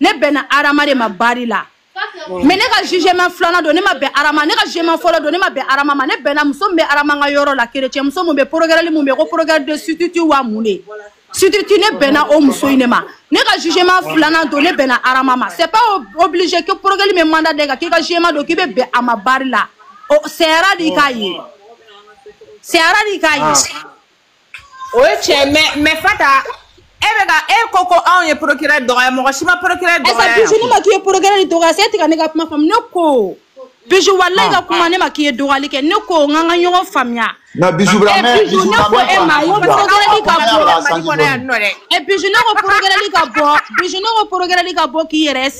ne bɛnna arama de ma bari la mais ne ka jugement filanan don ne ma bɛn arama ne ka jugement fɔlɔ don ne ma bɛn arama ma ne bɛnna muso min bɛ arama ka yɔrɔ la kerecɛn muso min bɛ procureur min bɛ ko procureur de substitut wa mun de substitut ne bɛnna o muso in de ma ne ka jugement filanan don ne bɛnna arama ma c'est pas obligé que procureur min mandat da i kan k'i ka jugement don k'i bɛ bɛn a ma bari la o sɛyara de k'a ye sɛyara de k'a ye o ye tiɲɛ mais mais fata e bɛ ka e ko ko anw ye procureur dɔgɔya mɔgɔ si ma procureur dɔgɔya yan bijou ne ma k'i ye procureur de dɔgɔya c'est e tɛ ka ne ka kuma faamu ne ko bijou walayi ka kuma ne ma k'i ye dɔgɔyali kɛ ne ko an ka an ka ɲɔgɔn faamuya nka bijou bila mais bijou ne ko e ma ko procureur ka bɔ mali kɔnɔ yan non dɛ bijou ne ko procureur ka bɔ bijou ne ko procureur ka bɔ k'i yɛrɛ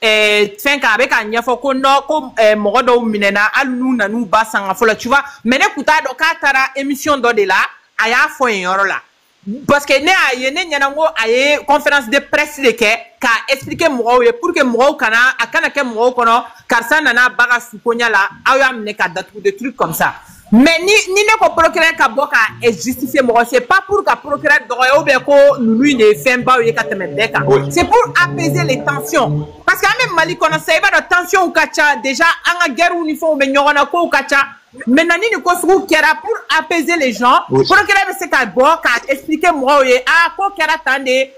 eh, fɛn kan a bɛ k'a ɲɛfɔ ko non ko eh, mɔgɔ dɔw minɛna hali n'u nan'u ba sanga fo la tu vois mais ne kun t'a dɔn k'a taara émission dɔ de la a y'a fɔ yen yɔrɔ la parce que ne y'a ye ne ɲɛna ko a ye conférence de presse de kɛ k'a expliquer mɔgɔw ye pour que mɔgɔw kana a kana kɛ mɔgɔw kɔnɔ karisa nana a ba ka sukonya la aw y'a minɛ k'a datugu des trucs comme ça mais ni ni ne ko procureur ka bɔ ka justifier mɔgɔ c'est pas pour ka procureur dɔgɔya ou bien ko ninnu in de ye fɛnbaw ye ka tɛmɛ bɛɛ kan c'est pour apaiser les tensions parce que an bɛ mali kɔnɔ sisan i b'a dɔn tensions ka ca déjà an ka guerrew ni fɛnw bɛ ɲɔgɔn na kow ka ca maintenant ni nin ko sugu kɛra pour apaiser les gens procureur bɛ se ka bɔ ka expliquer mɔgɔw ye ah ko kɛra tan de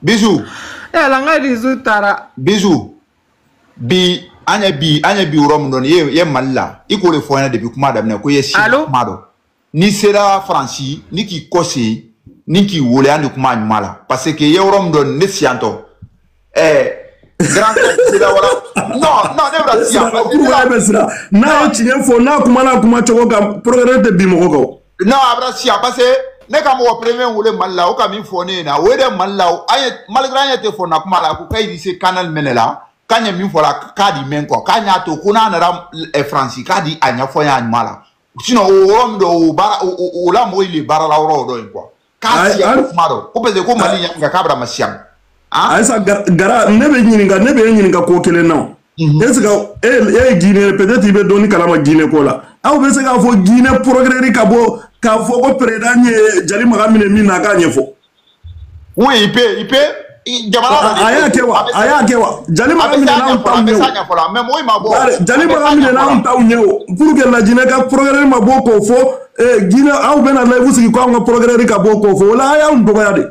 bijou yala n ka dusu taara bijou bi an ye bi an ye bi yɔrɔ min dɔn ye ye mali la i k'o de fɔ ɲɛna depuis kuma daminɛ ko i ye si kuma dɔn n'i sera faransi ni k'i kɔ se ni k'i wele an de kuma ɲuman la parce que i ye yɔrɔ min dɔn ne siyantɔ ɛɛ grand sira voilà non non ne bɛna siyan n'a ye tiɲɛ fɔ n'a kumana kuma cogo kan procureur tɛ bi mɔgɔ kan non a bɛna siya parce que ne ka mɔgɔ premier wele mali la o ka min fɔ ne ye na o ye dɛ mali la o an ye malgré an ye tɛ fɔ na kuma la ko k'a se canal mɛnɛ la k'an ye min fɔ la k'a di mɛn quoi k'an y'a to ko n'a nana eh, faransi k'a di a ɲɛfɔ n y'a ɲuman la sinon o yɔrɔ min don o baara o la mɔgɔ ye baara la yɔrɔ o dɔ ye quoi k'a siya ko kuma dɔ ko parce que ko mali ɲɛ nka k'a bɛna masiya ayisa gara ne bɛ ɲininka ne bɛ e ɲininka ko kelen na mhm. est ce que e ye guinee peut être i bɛ dɔɔni kalama guinee ko la aw bɛ se k'a fɔ guinee procureur ka bɔ k'a fɔ ko président ye jali maga minɛ min na a k'a ɲɛfɔ oui il peut il peut jamana la de a y'a kɛ wa a y'a kɛ wa jali maga minɛna aw taw ɲɛ o jali maga minɛna aw taw ɲɛ o pourquoi la guinee ka procureur ma bɔ k'o fɔ guinee aw bɛna live sigi ko anw ka procureur ka bɔ k'o fɔ o la a y'anw dɔgɔya de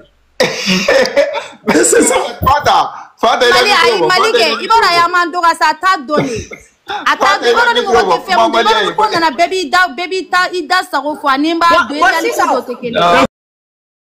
mali kɛ i b'a dɔn a y'an man dɔgɔya sa a t'a dɔn de a t'a dɔn i b'a dɔn ni mɔgɔ tɛ fɛn min dɔn i b'a dɔn ni ko nana bɛɛ b'i da bɛɛ b'i ta i da sago fɔ ani n b'a don i da ni ko dɔ tɛ kelen ye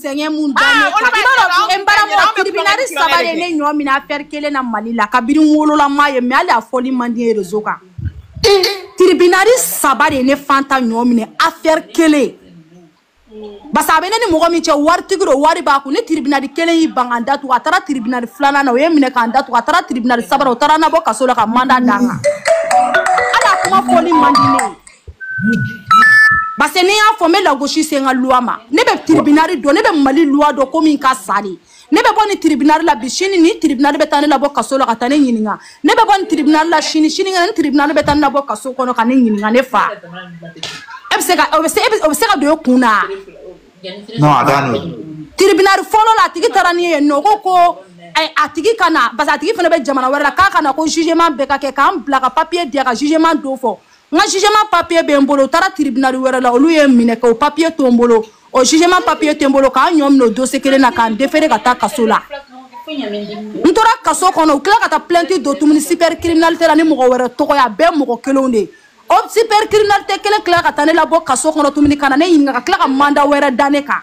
sɛgɛn mun da ne kan i b'a dɔn n balimaw tribunal saba de ye ne ɲɔ minɛ affaire kelen na Mali la kabini n wolola n m'a ye mais hali a fɔli man di ye réseau kan tribunal saba de ye ne fanta ɲɔ minɛ affaire kelen parce que a bɛ ne ni mɔgɔ min cɛ waritigi don wari b'a kun ne tribunal kelen y'i ban ka n datugu a taara tribunal filanan na o ye n minɛ ka n datugu a taara tribunal sabanan o taara n nabɔ kaso la ka mandat da n kan hali a kuma fɔli man di ne ye parce que ni n y'a fɔ n bɛ lagosi se n ka luwa ma ne bɛ tiribinari dɔn ne bɛ mali luwa dɔn ko min ka sa de ne bɛ bɔ nin tiribinari la bi sini nin tiribinari bɛ taa ne labɔ kaso la ka taa ne ɲininka ne bɛ bɔ nin tiribinari la sini sinikɛnɛ nin tiribinari bɛ taa ne labɔ kaso kɔnɔ ka ne ɲininka ne fa e bɛ se ka o bɛ se e bɛ o bɛ se ka don e kun na non a t'a nɔ tiribinari fɔlɔ la a tigi taara ni ye nɔ ko ko ɛ, a tigi ka na parce que a tigi fana bɛ jamana wɛrɛ la k'a ka na ko jugement bɛɛ ka kɛ ka n bila ka papier di a ka jugement don fɔ n ka jugement papier bɛ n bolo u taara tribunal wɛrɛ la olu ye n minɛ k'o papier to n bolo o jugement papier to n bolo ka n ɲɔ minɛ o dossier kelen na ka n defere ka taa kaso la n tora kaso kɔnɔ u tila ka taa plainte don tumuni super criminalité la ni mɔgɔ wɛrɛ tɔgɔ ye a bɛɛ mɔgɔ kelenw de ye o super criminalité kelen tila ka taa ne labɔ kaso kɔnɔ tumuni ka na ne ɲininka ka tila ka mandat wɛrɛ da ne kan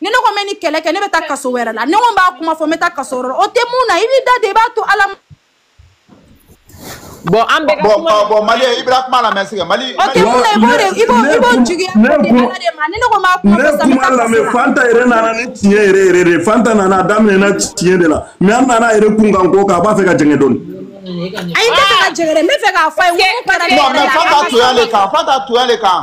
ni ne ko n bɛ nin kɛlɛ kɛ ne bɛ taa kaso wɛrɛ la ne ko n b'a kuma fɔ n bɛ taa kaso wɛrɛ la o tɛ mun na i b'i da de i b'a to ala ma bɔn an bɛɛ ka kuma bɔn bɔn mali i bɛna kuma lamɛn sɛgɛ mali o tɛ mun na i b'o de i b'o i b'o juguya o de ala de ma ni ne ko n b'a kuma fɔ sisan n bɛ taa kaso la fanta yɛrɛ nana ni tiɲɛ yɛrɛ yɛrɛ de fanta nana a daminɛna tiɲɛ de la mɛ an nana yɛrɛ kun kan ko k'a b'a fɛ ka jɛngɛ dɔɔni ayi n tɛ fɛ ka jɛngɛ dɛ n bɛ fɛ k'a fɔ a ye n ko n kɛra ne yɛrɛ la a ka sɔrɔ a ma fanta toya le kan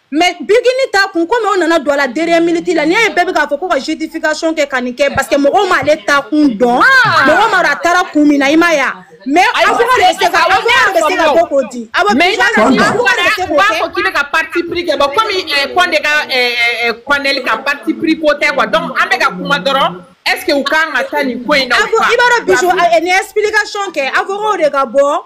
mɛ bigini ta kun komi o nana don a la deriyɛ miniti la n'i y'a ye bɛɛ bɛ k'a fɔ ko ka justification kɛ ka nin kɛ parce que mɔgɔw m'ale ta kun dɔn ah! mɔgɔ m'a dɔn a taara kun min na i ma ya mais avocat de bɛ se ka avocat de bɛ se ka bɔ k'o di avocat de bɛ se k'o kɛ u b'a fɔ k'i bɛ ka parti pris kɛ bon komi kɔnde ka kɔnɛli ka parti pris ko tɛ quoi donc an bɛ ka kuma dɔrɔn est ce que u kan ka taa nin ko in na ou pas i b'a dɔn bijou ni explication kɛ avocat de ka bɔ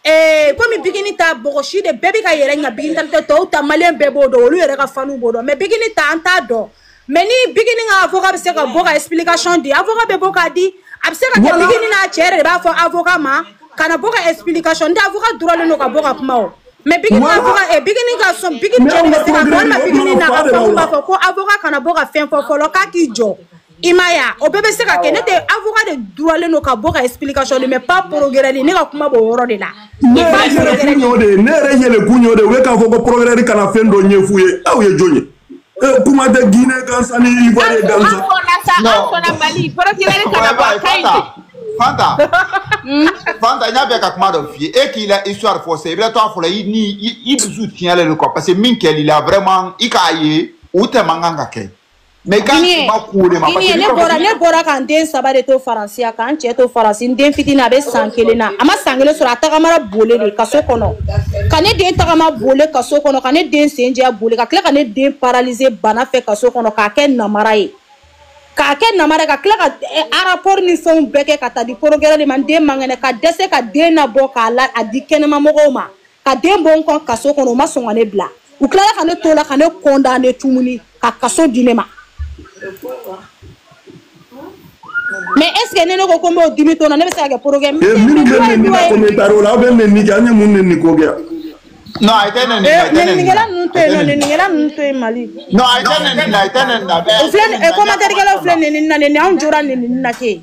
Eh, komi bigini ta mɔgɔ si de bɛɛ bɛ ka yɛrɛ ɲa bigini talitɔ tɔw ta maliyɛn bɛɛ b'o dɔn olu yɛrɛ ka fanw b'o dɔn mɛ bigini ta an t'a dɔn mɛ ni bigini ka avoka bɛ se ka bɔ ka explication di avoka bɛ bɔ k'a di a bɛ se ka kɛ bigini n'a cɛ yɛrɛ de b'a fɔ avoka ma kana bɔ ka explication di avoka droit le don ka bɔ ka kuma o mɛ bigini ka avoka eh, bigini ka sɔn bigini cɛ de bɛ se ka walima bigini n'a ka fɛnw b'a fɔ ko avoka kana bɔ ka fɛn fɔ fɔlɔ k'a k'i jɔ i ma ya o bɛɛ bɛ se ka kɛ n'o tɛ avocat de droit le don ka bɔ ka explication di mais pas procureur ne ka kuma b'o yɔrɔ de la ne yɛrɛ yɛlɛkun y'o de ye ne yɛrɛ yɛlɛkun y'o de ye u ye k'a fɔ ko procureur kana fɛn dɔ ɲɛf'u ye aw ye jɔn ye kuma tɛ guinéen gansan ni ivoirien gansan an fɔla sa an fɔla mali procureur kana bɔ a ka ɲi ten fanta fanta n y'a fɛ ka kuma dɔ f'i ye e k'i la histoire fɔ sisan i bɛ to a fɔ la i ni i dusu tiɲɛlen don quoi parce que min kɛl'i la vraiment i k'a ye o tɛ man kan ka kɛ mais k'a tigi ma k'o de ma parce que ne bɔra ne bɔra ka n den saba de to faransi yan ka n cɛ to faransi n den fitini a bɛ san kelen na a ma san kelen sɔrɔ a tagamara bole de kaso kɔnɔ ka ne den tagama bole kaso kɔnɔ ka ne den sen jɛya bole ka tila ka ne den paralize bana fɛ kaso kɔnɔ k'a kɛ namara ye k'a kɛ namara ka tila ka eh, rapport ni fɛnw bɛɛ kɛ ka taa di procureur de ma n den man kɛnɛ ka dɛsɛ ka den nabɔ k'a la a di kɛnɛmamɔgɔw ma ka den bɔ n kɔ kaso kɔnɔ u ma sɔn ka ne bila u tilala ka ne to la ka ne condamné tuguni ka kaso di ne ma mais est ce que ne ne ko ko n b'o dimi to na ne bɛ se ka kɛ porokɛ minnu bɛ nɛni kɛ commentaire la aw bɛ nɛni kɛ an ye mun nɛni ko kɛ non a tɛ nɛni la a tɛ nɛni la nɛninikɛla ninnu to yen nɔ nɛninikɛla ninnu to yen mali non a tɛ nɛni la a tɛ nɛni la o filɛ nin- eh, commentaire kɛlaw filɛ nɛnini na nɛni anw jora nɛnini na ten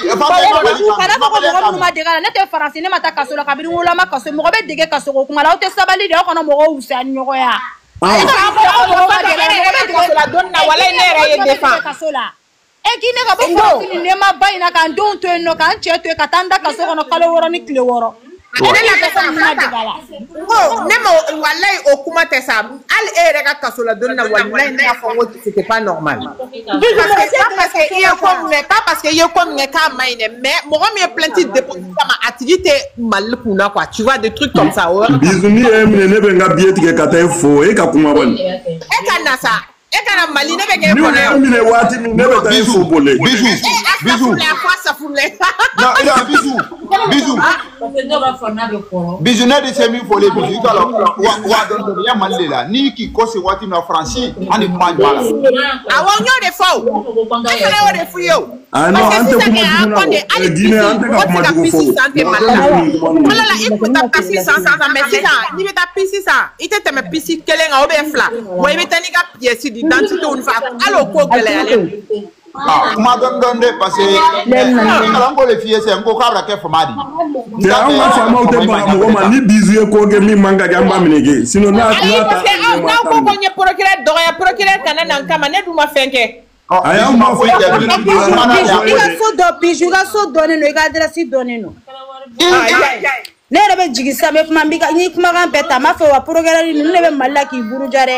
kana fɔ ko mɔgɔ minnu ma dege a la ne tɛ faransi ne ma taa kaso la kabini woloma kaso mɔgɔ bɛ dege kaso ko kuma la aw tɛ sabali de aw kana mɔgɔw wusa ni ɲɔgɔn ya ale fana fɔ aw mɔgɔ ma dege ne bɛ kaso la don na wala ne yɛrɛ ye defan kaso la e k'i ne ka bɔ faransi nɛɛma ba in na ka n denw to yen nɔ ka n cɛ to yen ka taa n da kaso kɔnɔ kalo wɔɔrɔ ni tile wɔɔrɔ Wa- Ale na kɛ sa kuma de b'a la. Ko ne ma walayi o kuma tɛ sa hali e yɛrɛ ka kaso la donni na walayi ne y'a fɔ n ko c'était pas normal. Parce que pas parce que i ye ko min kɛ pas parce que i ye ko min kɛ k'a ma ɲi dɛ mais mɔgɔ min ye plainte déposé kama a tigi tɛ Mali kun na quoi tu vois des trucs comme ça o yɔrɔ Bijou n'u y'i minɛ ne bɛ n ka biye tigɛ ka taa e fo e ka kuma kɔni e ka na sa e ka na mali ne bɛ kɛ kɔnɔ yan minɛ waati min ne bɛ taa e fo bole biju biju a fɔ safunɛ ya biju biju biju ne de se min fɔlen biju i ka la wa dɔn dɔn ya mali de la n'i k'i kɔse waati min na faransi ani kuma jɔ a la awɔ n y'o de fɔ o e fana y'o de f'u ye o Ah, non, an tɛ kuma jugu la o. Guinée an tɛ ka kuma jugu fɔ o. Fɔlɔ la i tun bɛ taa pisi san san san mais sisan n'i bɛ taa pisi san i tɛ tɛmɛ pisi kelen kan ou bien fila wa i bɛ taa n'i ka pièce d'identité ni fɛn hali o ko gɛlɛyalen don. Ah, kuma dɔɔni dɔɔni dɛ parce que kalan ko de f'i ye sisan n ko ka baara kɛ faama de ye. Cɛ anw ka faamaw tɛ baga mɔgɔ ma ni Bijou ye ko kɛ min man ka kɛ an b'a minɛ kɛ sinon n'a n'a ta. Ayi parce que aw n'aw ko ko n ye procureur dɔgɔya procureur kana na n kama ne dun ma fɛn kɛ. ayi an ma foyi kɛ bilen i ka so dɔ biju i ka so dɔnnen don i ka adrɛsi dɔnnen don ne yɛrɛ bɛ jigin sisan bɛ kuma n ye kumakan bɛɛ ta n m'a fɔ wa procureur ninnu ne bɛ mali la k'i buruja dɛ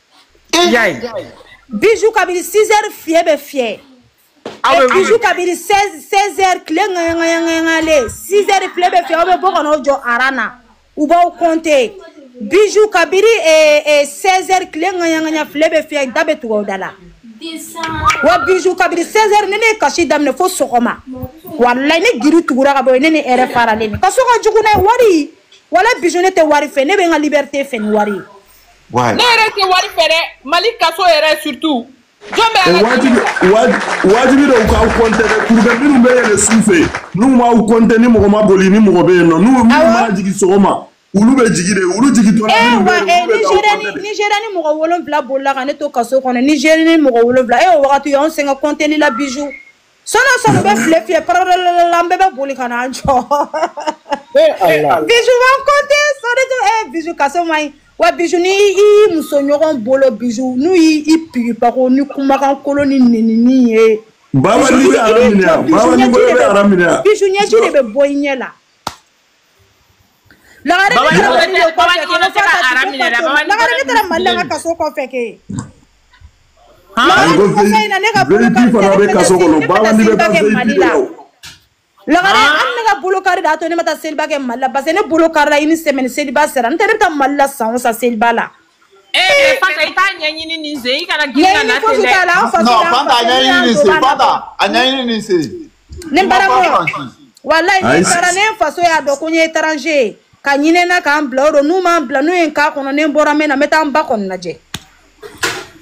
y'a ye bijou kabini 6 heures file bɛ fiyɛ aw bɛ bijou kabini 16 16 heures tile ŋayaŋayaŋayalen 6 heures file bɛ fiyɛ aw bɛ bɔ ka n'aw jɔ aran na u b'aw compter bijou kabini eh, eh, 16 heures tile ŋayaŋaya file bɛ fiyɛ da bɛ tugu aw da la wa bijou kabini 16 heures ni ne ye kasi daminɛ fo sɔgɔma walayi ne giri tugura ka bɔ yen ne ni hɛrɛ faralen don kaso ka jugu n'a ye wari wala bijou ne tɛ wari fɛ ne bɛ n ka liberté fɛ ni wari ye Ouais. Ne yɛrɛ tɛ wari fɛ dɛ Mali kaso yɛrɛ surtout. Jɔn bɛ ala wajibi wajibi don u k'aw kɔntɛ de pour que minnu bɛ yɛlɛ su fɛ n'u m'aw kɔntɛ ni mɔgɔ ma boli ni mɔgɔ bɛ yen nɔ n'u minnu mana jigin sɔgɔma olu bɛ jigin de olu jigintɔ la minnu bɛ yen olu bɛ k'aw kɔntɛ de. Nizeriyani mɔgɔ wolonwula bolila ka ne to kaso kɔnɔ Nizeriyani mɔgɔ wolonwula e o wagati u y'anw sɛgɛn kɔntɛli la bijou. sɔɔni o sɔɔni u bɛ file fiyɛ paralalalalala an bɛɛ bɛ boli ka n'an jɔ e ala bijou u b'an kɔnte sɔnni tɛ ee bijou kaso man ɲi wa bijou ni i y'i muso ɲɔgɔn bolo bijou n'u y'i i pigipako ni kumakan kolon ni nenini ye baba n'i bɛ aran minɛ yan baba n'i bolo bɛ aran minɛ yan bijou ɲɛji de bɛ bɔ i ɲɛ la Lagare Baba, ne taara Mali o kɔfɛ kɛ, ne fura ka dugu Baba, ne tɔgɔ to. Lagare ne taara Mali la n ka kaso kɔfɛ kɛ. Lagare nin kɔfɛ in na ne ka bolo kari tɛ, ne bɛ taa seliba kɛ Mali la. Lagare hali ne ka bolo kari de y'a to ne ma taa seliba kɛ Mali la parce que ne bolo karila une semaine seliba sera n'o tɛ ne bɛ taa Mali la san o san seliba la. ee fanta i t'a ɲɛɲini nin sen i kana girin ka na ten dɛ non fanta a ɲɛɲini nin sen fanta a ɲɛɲini nin sen ne barakɔ walayi ni taara ne faso y'a dɔn ko n ye étranger ye ka ɲinɛ na ka n bila o don n'u ma n bila n'u ye n k'a kɔnɔ ni n bɔra n bɛ na n bɛ taa n ba kɔni lajɛ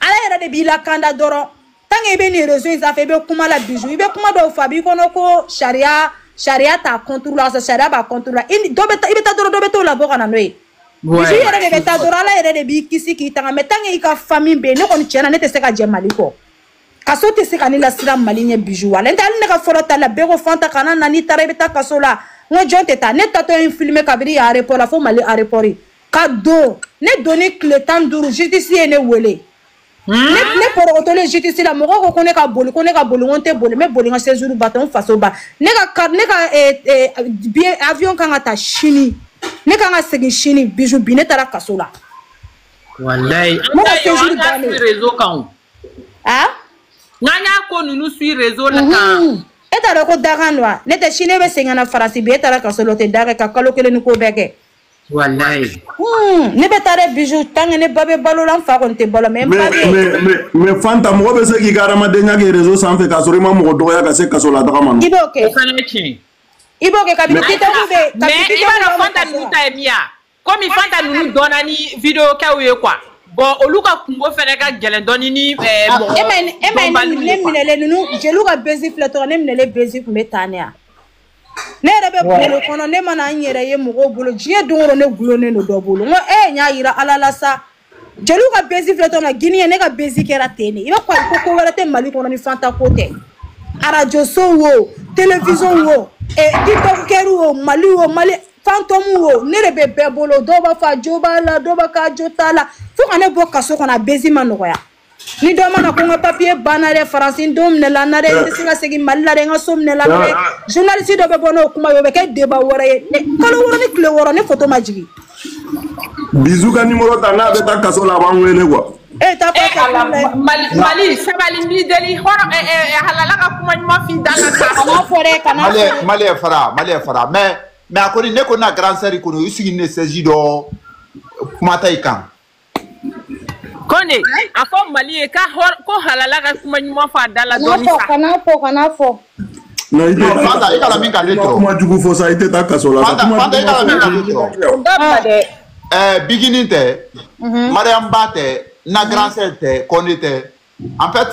ala yɛrɛ de b'i lakanda dɔrɔn tant que i bɛ nin réseau in sanfɛ i bɛ kuma la bijou i bɛ kuma dɔw fɔ a b'i kɔnɔ ko sariya sariya t'a contre la sɔrɔ sariya b'a contre la i dɔ bɛ taa i bɛ taa dɔrɔn dɔ bɛ t'o labɔ ka na n'o ye bijou yɛrɛ de bɛ taa dɔrɔn ala yɛrɛ de b'i kisi k'i tanga mais tant que i ka famille bɛ yen ne kɔni tiɲɛ na ne tɛ se ka jɛ mali kɔ kaso tɛ se ka ne lasiran mali ɲɛ bijou wa n'o tɛ hali ne ka fɔlɔ taa la bɛɛ ko fanta kana na n'i taara i bɛ taa kaso la n ko jɔn tɛ taa ne taatɔ ye n filmer kabiri aéroport la fo mali aéroport ka don ne donni tile tan duuru justice ye ne wele hmm? ne porokotolen justice la mɔgɔ ko ko ne ka boli ko ne ka boli ko n tɛ boli n bɛ boli n ka séjour ba tɛ n faso ba ne ka ne ka eh, eh, billet avion kan ka taa sini ne kan ka segin sini bijou bi ne taara kaso la walayi ne ka séjour bannen réseau kan n'an y'a ko ninnu suit réseau la kan e t'a dɔn ko dakan don wa n'o tɛ sini ne bɛ segin ka na faransi bi e taara kaso la o tɛ dakan ye ka kalo kelen ni kɔ bɛɛ kɛ Walayi. Hmm, ne bɛ taa dɛ bijou tant que ne ba bɛ balo la n fa kɔni tɛ balo mais n ba bɛ. mais mais mais Fanta mɔgɔ bɛ se k'i ka hadamadenya kɛ réseau sanfɛ k'a sɔrɔ i ma mɔgɔ dɔgɔya ka se kaso la taga ma. I b'o kɛ. O fana ye tiɲɛ. I b'o kɛ kabini TikTok bɛ. mais i b'a dɔn Fanta ninnu ta ye min ye wa komi Fanta ninnu dɔnna ni video kɛw ye quoi. bon olu ka kungo fana ka gɛlɛn dɔɔni ni eh, ah, mɔgɔ e ma ye ne minɛlen ninnu jeliw ka bezi filɛ tɔgɔ ne minɛlen bezi tun bɛ tan de wa. ne yɛrɛ bɛ bolo kɔnɔ ne mana n yɛrɛ ye mɔgɔw bolo diɲɛ don o don ne gulonnen don dɔ bolo n ko ee n y'a yira ala la sa jeliw ka bezi filɛ tɔ la gine ne ka bezi kɛra ten de i b'a fɔ ayi ko ko wɛrɛ tɛ mali kɔnɔ ni fanta ko tɛ arajo sow wo telefizɔn wo eh, tiktɔkɛriw wo mali wo mali fantɔmu wo ne de bɛ bɛɛ bolo dɔw b'a fɔ a jo b'a la dɔw b'a k'a jo t'a la fo ka ne bɔ kaso kɔnɔ a bezi ma nɔgɔya ni dɔ mana ko n ka papiye banna dɛ faransi n den minɛla n na dɛ n tɛ se ka segin mali la dɛ n ka so minɛla n na dɛ journaliste dɔ bɛ bɔ n'o kuma ye o bɛ kɛ débat wɛrɛ ye kalo wɔɔrɔ ni tile wɔɔrɔ ne foto ma jigin bijou ka nimoro ta n'a bɛ taa kaso la a b'an wele quoi e ta fɔ ka mali mali sabali n b'i deli hɔrɔn halala ka kuma ɲuman f'i da ka taa a b'a fɔ dɛ kana mali ye fara mali ye fara mais mais a kɔni ne ko na grand sœur kɔni i sigi ne sɛji dɔ kuma ta i kan kɔnde a fɔ mali ye ka hɔr- ko halala ka kuma ɲuman fɔ a da la Kana dɔɔni fɔ, sa kana fɔ, kana fɔ. Non, i tɛ Non, taa Fanta, i kana min ka ne tɔɔrɔ. kuma jugu fɔ sa i tɛ taa kaso la sa Fanta, kuma Fanta, i kana min ka ne tɔɔrɔ. Dabila dɛ. Ɛɛ, bigini tɛ mariyamu ba tɛ na grand sœur tɛ kɔnde tɛ en fait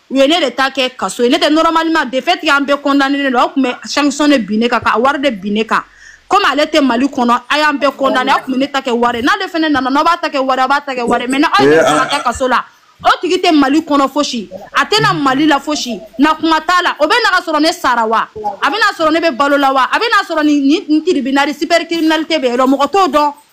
u ye ne de ta kɛ kaso ye ne tɛ normalement de fait an bɛɛ condamnénen don aw tun bɛ sanction de bin ne kan ka wari de bin ne kan comme ale tɛ Mali kɔnɔ a y'an bɛɛ condamné aw tun bɛ ne ta kɛ wari ye n'ale fana nana n'aw b'a ta kɛ wari ye aw b'a ta kɛ wari ye mais ni aw ye ne ta ka taa kaso la o tigi tɛ Mali kɔnɔ fosi a tɛ na Mali la fosi na kuma t'a la o bɛ na ka sɔrɔ ne sara wa a bɛ na sɔrɔ ne bɛ balo la wa a bɛ na sɔrɔ nin nin tribunal cybercriminalité bɛ yen nɔ mɔgɔ t'o dɔn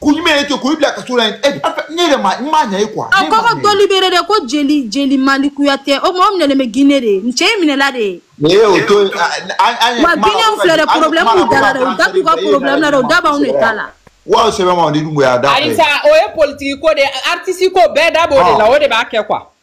ko ɲuman ye to ko i bila kaso la yen ɛ ne yɛrɛ ma n m'a ɲɛ ye quoi. a ko ka dɔ libéré dɛ ko jeli jeli mali kuyatɛ o mɔgɔ minɛlen bɛ gine de n cɛ in minɛla de ye. ne y'o to yen an ye. wa gine filɛ dɛ problème b'u da la dɛ u da t'u ka problème na dɛ u da b'anw de ta la. wa sɛbɛn ma ni dun y'a da. ayi sa o ye politiki ko de ye artiste ko bɛɛ da b'o de la o de b'a kɛ quoi.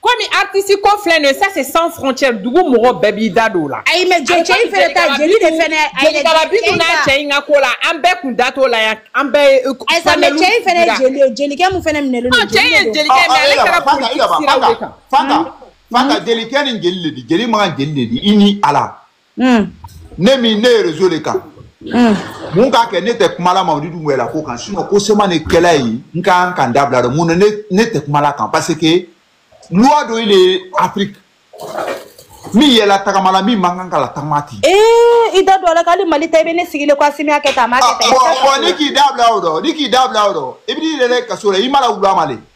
komi artiste ko filɛ nin ye ça c'est sans frontière dugu mɔgɔ bɛɛ b'i da don o la. ayi mais jɔ cɛ in fɛnɛ tɛ jeli de fɛnɛ. jelikaba bi tun n'a cɛ in ka ko la an bɛɛ kun da t'o la yan an bɛɛ ye. ayi sa mais cɛ in fɛnɛ ye jeli ye jelikɛ min fɛnɛ minɛlen don jeli de don. cɛ in ye jelikɛ ye mais ale kɛra politique siraw de kan. fanta fanta jelikɛ ni jeli de di jeli man kan jeli de di i ni ala. hmm. ne min ne ye réseau le kan hmm. mun k'a kɛ ne tɛ kumala mamadi dunbuya la ko kan sinon ko siyaman ne kɛla yen n ka kan ka n da bila dɔ mun na ne tɛ kumala kan parce que loi dɔ ye le afrique min ye latagama la min man kan ka latagama ten i da don a la k'ale mali ta i bɛ ne sigilen ko asimi y'a kɛ tan a m'a kɛ tan bon n'i k'i da bila o dɔ n'i k'i da bila o dɔ i bɛ n'i bila kaso la i ma la wula ma le